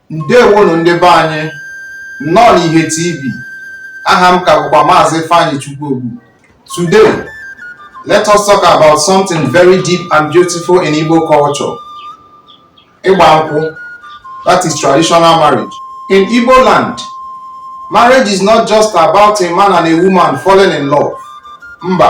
ndewonụ ndị be anyị nnọọ n'ihe tv aha m ka bụkwa maazị Ifeanyichukwu Ogbu today let us talk about something very deep and beautiful in Igbo culture ịgba nkwụ that is traditional marriage in Igbo land marriage is not just about a man and a woman falling in love mba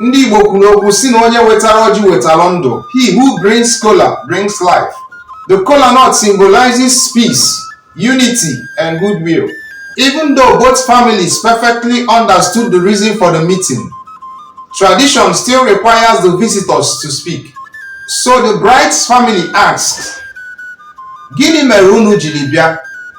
ndị Igbo kwuru okwu sị na onye wetara ọjị wetara ndụ he who brings kola brings life the kola nut symbolizes peace unity and goodwill even though both families perfectly understood the reason for the meeting tradition still requires the visitors to speak so the bride's family asks gịnị mere unu jiri bịa